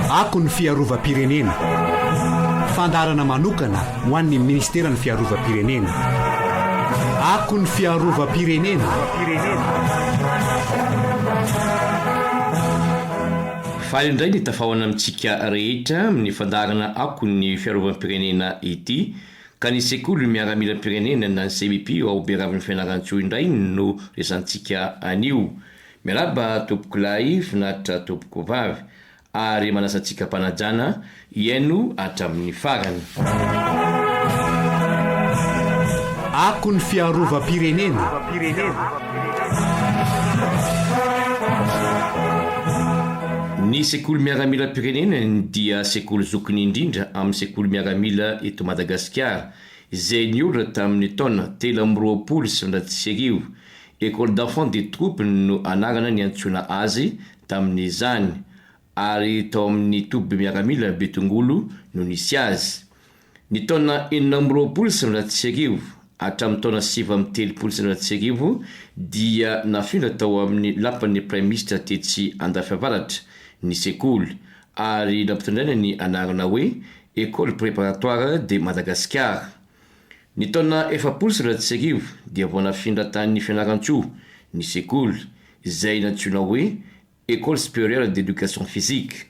Ako ny fiarovam-pirenena, fandaharana manokana ho an'ny Ministeran'ny Fiarovam-pirenena. Ako ny fiarovam-pirenena. Faly indray ny tafahoana amintsika rehetra amin'ny fandaharana Ako ny fiarovam-pirenena ity, ka ny Sekoly miaramilam-pirenena na ny CMIPIO ao Beravin'ny Fianarantsoa indray no resantsika anio. Miarahaba tompoko lahy finaritra tompoko vavy ary manasa antsika mpanajana hiaino hatramin'ny farany. Akon'ny fiarovam-pirenena. Ny sekoly miaramilam-pirenena dia sekoly zokiny indrindra amin'ny sekoly miaramila eto Madagasikara izay niorina tamin'ny taona telo amby roapolo sy sivinjato sy arivo Ecole d'enfants des troupes no anarana niantsoana azy tamin'izany, ary tao amin'ny toby miaramila Betongolo no nisy azy. Ny taona enina amby roapolo sy sivinjato sy arivo hatramin'ny taona sivy amby telopolo sy sivinjato sy arivo dia nafindra tao amin'ny lapan'ny Praiminisitra tetsy Andafiavaratra ny sekoly, ary nampitondraina ny anarana hoe Ecole préparatoire de Madagasikara. Ny taona efapolo sy iray sy arivo dia vao nafindra tany Fianarantsoa ny sekoly izay nantsoina hoe Ecole Supérieure d'Education Physique.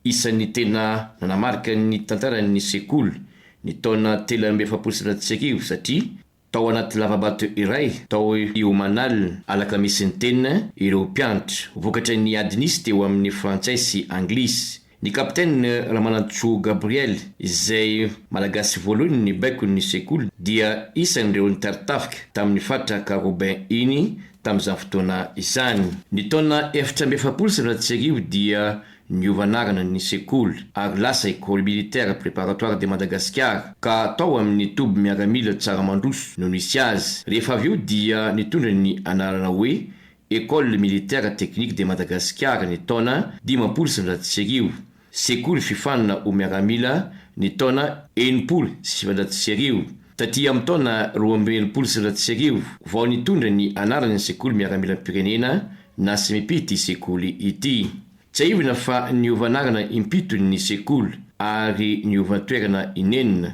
Isan'ny tena nanamarika ny tantaran'ny sekoly ny taona telo amby efapolo sy iray sy arivo satria tao anaty lava-bato iray tao Iomanal alakamisy niteny ireo mpianatra vokatry ny ady nisy teo amin'ny frantsay sy anglisy Ny Kapiteny Ramanantsoa Gabriel, izay Malagasy voalohany nibaiko ny sekoly, dia isan'ireo nitari-tafika tamin'ny faritra Karobin iny tamin'izany fotoana izany. Ny taona efatra amby efapolo sy sivinjato sy arivo dia niova anarana ny sekoly ary lasa Ecole Militaire Préparatoire de Madagascar ka tao amin'ny toby miaramila Tsaramandroso no nisy azy. Rehefa avy eo dia nitondra ny anarana hoe Ecole Militaire Technique de Madagascar ny taona dimampolo sy sivinjato sy arivo, Sekoly Fifanina ho Miaramila ny taona enimpolo sy sivinjato sy arivo. Taty amin'ny taona roa amby enimpolo sy sivinjato sy arivo vao nitondra ny anarany ny Sekoly Miaramilam-pirenena na Smipi ity sekoly ity. Tsiahivina fa niova anarana impito ny sekoly ary niova toerana inenina.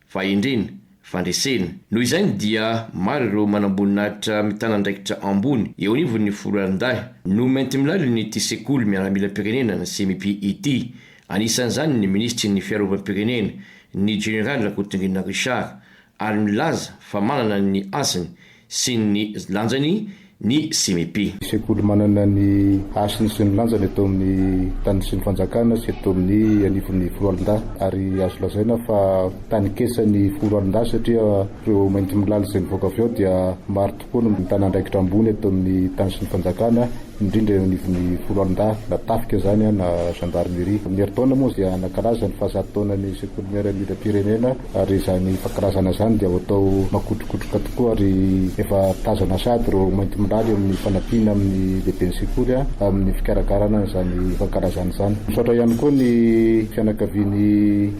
fahendrena, fandresena. Noho izany dia maro ireo manamboninahitra mitana andraikitra ambony eo anivon'ny foloalindahy no mainty milalin'ity sekoly miaramilam-pirenena na CMIP ity. Anisan'izany ny minisitry ny Fiarovam-pirenena, ny jeneraly Rakotonirina Richard, ary milaza fa manana ny hasiny sy ny lanjany ny CMIP. Sekoly manana ny hasiny sy ny lanjany eto amin'ny tany sy ny fanjakana sy eto amin'ny anivon'ny foloalindahy ary azo lazaina fa tanin-kesan'ny foloalindahy satria ireo maintimilala izay mivoaka avy ao dia maro tokoa no mitana andraikitra ambony eto amin'ny tany sy ny fanjakana indrindra eo anivon'ny foloalindahy na tafika izany na gendarmerie. Ny herintaona moa dia nankalaza ny fahazato taonan'ny sekoly miaramila-pirenena. Ary izany fankilazana izany dia ho atao makotrokotroka tokoa ary efa tazana sahady ireo maintimolaly eo amin'ny fanampiana amin'ny lehiben'ny sekoly amin'ny fikarakarana an'izany fankalazana izany. Misaotra ihany koa ny fianakavian'i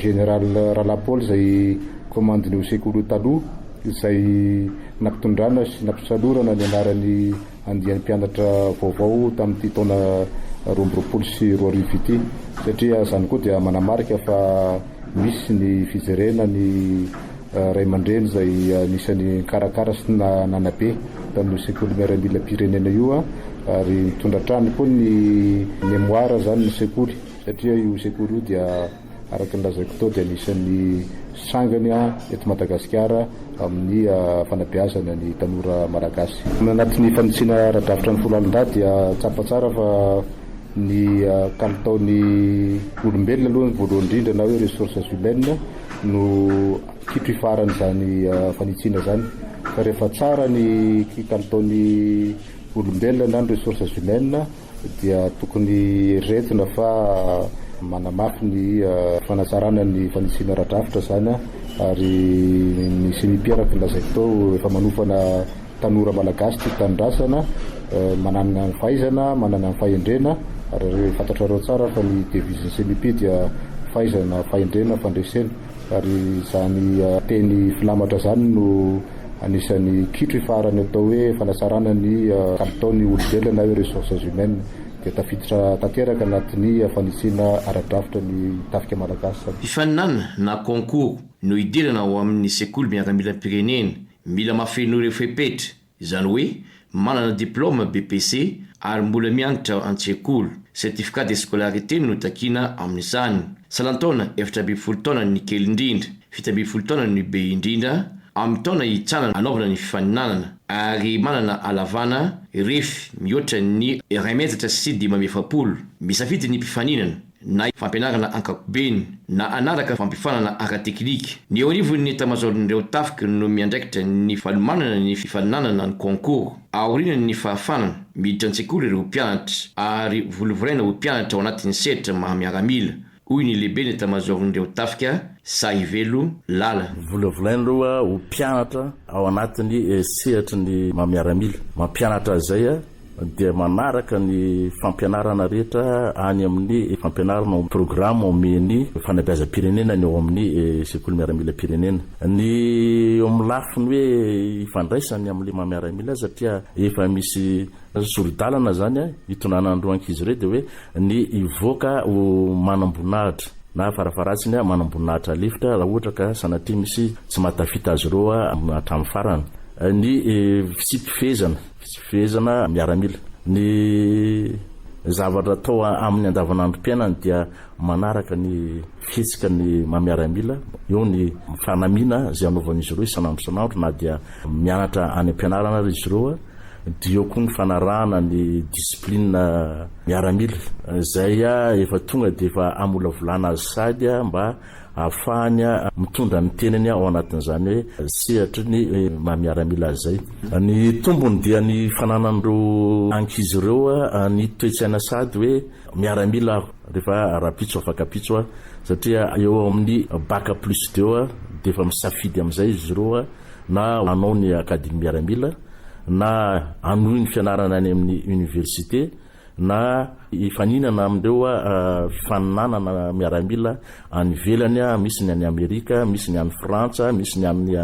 Général Ralahy Paul izay komandin'io sekoly io taloha izay nampitondrana sy nampisalorana ny anaran'i andiany mpianatra vaovao tamin'ity taona roa amby roapolo sy roa arivo ity satria izany koa dia manamarika fa misy ny fijerena ny ray aman-dreny izay anisan'ny nikarakara sy nanabe tamin'io sekoly miaramilam-pirenena io ary mitondra hatrany koa ny mémoire izany ny sekoly satria io sekoly io dia Araka ny lazaiko tao dia anisan'ny sangany eto Madagasikara amin'ny fanabeazana ny tanora Malagasy. Anatin'ny fanitsiana ara-drafitra ny folo alin-dahy dia tsapa tsara fa ny kalitaon'ny olombelona aloha ny voalohany indrindra na hoe ressources humaines no kitro ifaran'izany fanitsiana izany. Fa rehefa tsara ny kalitaon'ny olombelona na ny ressources humaines, dia tokony eritreretina fa manamafy ny fanatsarana ny fanisiana ara-drafitra izany ary ny Ceni Mpiaraky ny lazaiko tao efa manofana tanora malagasy tia tanindrazana manana ny fahaizana, manana ny fahendrena ary fantatrareo tsara fa ny devise ny Ceni Mpi dia fahaizana, fahendrena, fandresena. Ary izany teny filamatra izany no anisan'ny kitro ifaharan'ny atao hoe fanatsarana ny kalitaon'ny olombelona na hoe ressources humaines dia tafiditra tanteraka anatin'ny fanitsiana ara-drafitra ny tafika malagasy. Fifaninana na concours no hidirana ao amin'ny sekoly miaramilam-pirenena. Mila mahafenoy ireo fepetra, izany hoe manana diplaoma BEPC ary mbola mianatra an-tsekoly, certificat de scolarité no takiana amin'izany, salan-taona efatra ambin'ny folo taona ny kely indrindra, fito ambin'ny folo taona ny be indrindra, amin'ny taona hitsara hanaovana ny fifaninanana, ary manana halavana, ref, mihoatra ny iray metatra sy dimy amby efapolo. Misafidy ny mpifaninana. na fampianarana ankapobeny, na hanaraka fampifanana ara-teknika. Ny eo anivon' ny etamazaoron' ireo tafika no miandraikitra ny fanomanana ny fifaninanana ny concours. Aorian' ny fahafanana, miditra an-tsekoly ireo mpianatra ary volavoraina ho mpianatra ao anatin' ny sehatra maha miaramila, hoy ny lehiben' etamazaoron' ireo tafika, Sahivelo Lala. Volavolaina aloha ho mpianatra ao anatin' ny sehatry ny maha miaramila. Mampianatra azy izay dia manaraka ny fampianarana rehetra any amin'ny fampianarana ao programa omen'ny fanabeazam-pirenena ny ao amin'ny sekoly miaramilam-pirenena. Ny eo amin'ny lafiny hoe ifandraisany amin'ilay maha miaramila azy satria efa misy sori-dalana izany hitondrana an'ireo ankizy ireo dia hoe ny hivoaka ho manam-boninahitra na farafaharatsiny manam-boninahitra lefitra raha ohatra ka sanatria misy tsy mahatafita azy ireo hatramin'ny farany. Ny tsy fifehezana. Tsy fehezana miaramila. Ny zavatra atao amin'ny andavanandrom-piainany dia manaraka ny fihetsika ny maha miaramila, eo ny fanamiana izay anaovan'izy ireo isan'andro isan'andro na dia mianatra any am-pianarana ary izy ireo, dia eo koa ny fanarahana ny discipline miaramila izay efa tonga dia efa hamolavolana azy sahady mba Ahafahany mitondra ny tenany ao anatin'izany hoe sehatry ny maha miaramila azy izay. Ny tombony dia ny fananan'ireo ankizy ireo ny toe-tsaina sady hoe miaramila aho rehefa rahampitso afakapitso aho satria eo amin'ny bac plus deux dia efa misafidy amin'izay izy ireo na hanao ny academy miaramila na hanohy ny fianarana any amin'ny université. na hifaninana amin'ireo fifaninanana miaramila any ivelany, misy ny any Amerika, misy ny any Frantsa, misy ny any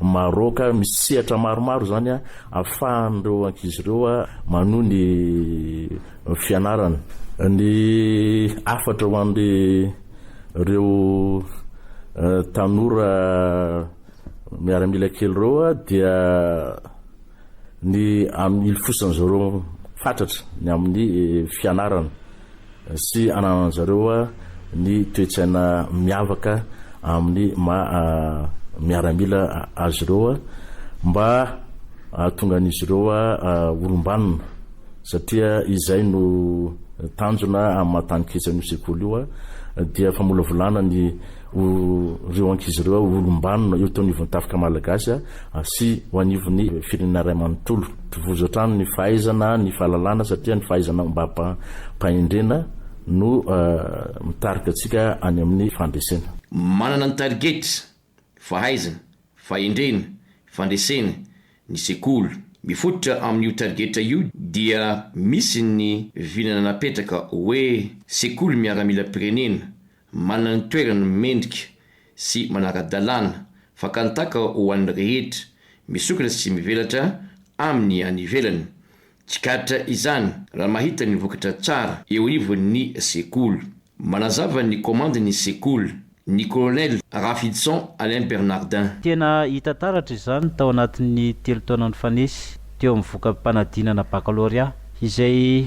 Maroc, misy sehatra maromaro izany ahafahan'ireo ankizy ireo manohy ny fianarany. Ny hafatra ho an'ireo tanora miaramila kely ireo dia. ny amin'ny hilofosany zareo fatratra ny amin'ny fianarana sy ananan'ny zareo ny toe-tsaina miavaka amin'ny maha miaramila azy ireo mba hahatonga an'izy ireo olom-banona satria izay no tanjona amin'ny maha tany ketsa an'io sekoly io dia famolavolana ny ho reo ankizy reo ho olombanona eo teo anivon'ny tafika malagasy sy ho anivon'ny firenena ray manontolo. Tovozo hatrany ny fahaizana, ny fahalalana satria ny fahaizana ombam-pahendrena no mitarika antsika any amin'ny fandresena. Manana ny targets, fahaizana, fahendrena, fandresena, ny sekoly. Mifototra amin'io targetra io dia misy ny vinana napetraka hoe sekoly miaramilam-pirenena Manana ny toerany mendrika sy manara-dalàna, fakan-taka ho an'ny rehetra, misokatra sy mivelatra amin'ny any ivelany. Tsikaritra izany raha mahita ny vokatra tsara eo ivon'ny sekoly. Manazava ny kaomandy ny sekoly ny Colonel Rafidison Alain Bernardin. Tena hita taratra izany tao anatin'ny telo taona nifanesy teo amin'ny voka-panadinana bakalorea, izay.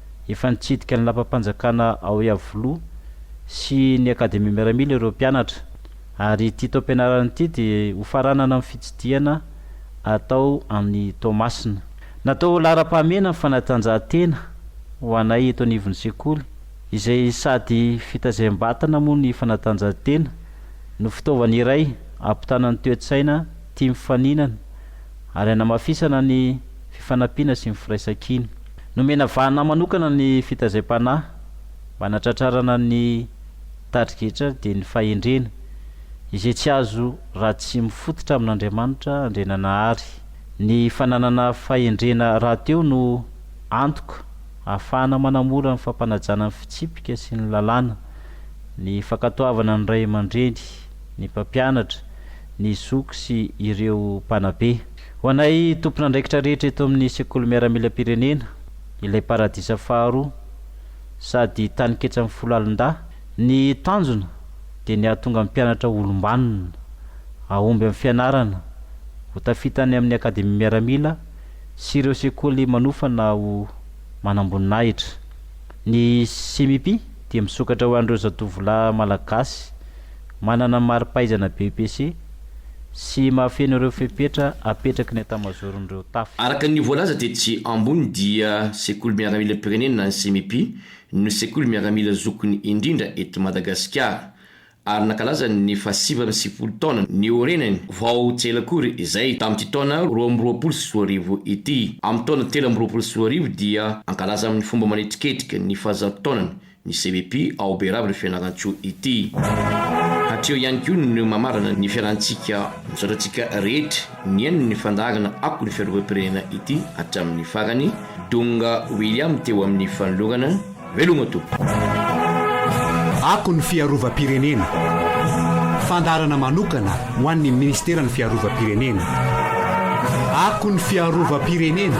Efa nitsidika ny lapam-panjakana ao Iavoloha sy ny Akademia Miaramila ireo mpianatra ary ity taom-pianarana ity dia hofaranana amin'ny fitsidihana atao any Toamasina. Natao ho laharam-pahamehana ny fanatanjahantena ho anay eto anivon'ny sekoly izay sady fitaizam-batana moa ny fanatanjahantena no fitaovana iray hampitana ny toe-tsaina tia mifaninana ary hanamafisana ny fifanampiana sy ny firaisankina. Nomena vahana manokana ny fitaizam-panahy mba hanatratrarana ny tari-getra dia ny fahendrena, izay tsy azo raha tsy mifototra amin'Andriamanitra Andriananahary. Ny fananana fahendrena rahateo no antoka ahafahana manamora ny fampanajana ny fitsipika sy ny lalàna, ny fankatoavana ny ray aman-dreny, ny mpampianatra, ny zoky sy ireo mpanabe. Ho anay tompon'andraikitra rehetra eto amin'ny Sekoly Miaramilam-pirenena, ilay paradisa faharoa, sady taninketsan'ny folo alin-dahy, ny tanjona dia ny hahatonga ny mpianatra ho olom-banona, hahomby amin'ny fianarana, ho tafita any amin'ny Akademia Miaramila sy ireo sekoly manofana ho manamboninahitra. Ny CMIP dia misokatra ho an'ireo zatovolahy Malagasy Manana ny mari-pahaizana BEPC sy mahafeno ireo fepetra apetraky ny Etamazaoron'ireo Tafo. Araka ny voalaza tetsy ambony dia Sekoly Miaramilam-pirenena ny CMIP no sekoly miaramila zokiny indrindra eto Madagasikara ary nankalaza ny fahasivy amby sivifolo taona niorenany vao tsy ela akory izay tamin'ity taona roa amby roapolo sy roa arivo ity. Amin'ny taona telo amby roapolo sy roa arivo dia hankalaza amin'ny fomba manetriketrika ny fahazato taonany ny CVP ao Berava io Fianarantsoa ity. Hatreo ihany koa no mamarana ny fialantsika misaotra antsika rehetra nihaino ny fandaharana Ako ny Fiarovam-pirenena ity hatramin'ny farany. Donga William teo amin'ny fanolorana. Veloma Tompo. Ako ny Fiarovam-pirenena, fandaharana manokana Ho an'ny Minisiteran'ny Fiarovam-pirenena. Ako ny Fiarovam-pirenena.